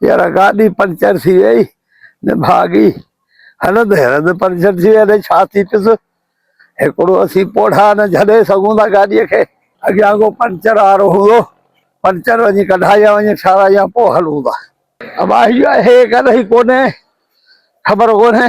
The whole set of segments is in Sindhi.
يارا گاڏي پنچر ٿي وئي نڀاڳي هلندي هلندي پنچر ٿي وئي اڙي ڇا ٿي پيس هڪڙو اسين پوڙها نه جهلي سگهون ٿا گاڏي کي اڳيان ڪو پنچر وارو هوندو پنچر وڃي ڪڍائي يا وڃي ٺاراهي يا پوء هلون ٿا. ابا هي ڪڏهن ڪونهي خبر ڪونهي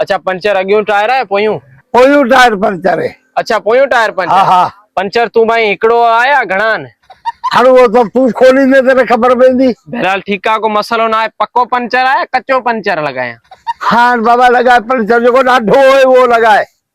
اڇا پنچر اڳيون ٽائر آهي پويون. پويون ٽائر پنچر اهي. اڇا پويون ٽائر پنچر. ها ها. پنچر تون ڀائي هڪڙو آ يا گهڻا آهن. هاڻ اهو ته تون کوليندين ته نه خبر پوندي. بهرحال ٺيڪ آ ڪو مسئلو ناهي پڪو پنچر آ يا ڪچو پنچر لڳايان. هاڻ بابا لڳاء پنچر جيڪو ڏاڍو هوئي اهو لڳاء.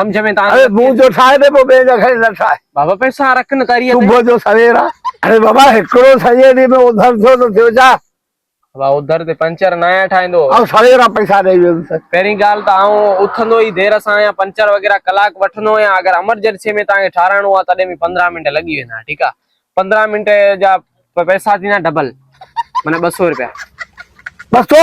سمجھ ۾ تان اري مون جو ٺاهي ته پوء ٻئي جا کڻي نه ٺاهي بابا پئسا رک نه تاري صبح جو سوير آ اري بابا هڪڙو سڄي ڏينهن ۾ اوڌر ٿيو ته ٿيو ڇا بابا اوڌر تي پنچر نه آهيان ٺاهيندو آئون سوير آ پئسا ڏئي ويندس پهرين ڳالهه ته آئون اٿندو ئي دير سان آهيان پنچر وغيره ڪلاڪ وٺندو آهيان اگر امرجنسي ۾ تان کي ٺاراهڻو آ تڏهن به پندرهن منٽ لڳي ويندا ٺيڪ آ پندرهن منٽ جا پئسا ٿيندا ڊبل معنيٰ ٻه سؤ رپيا بس تو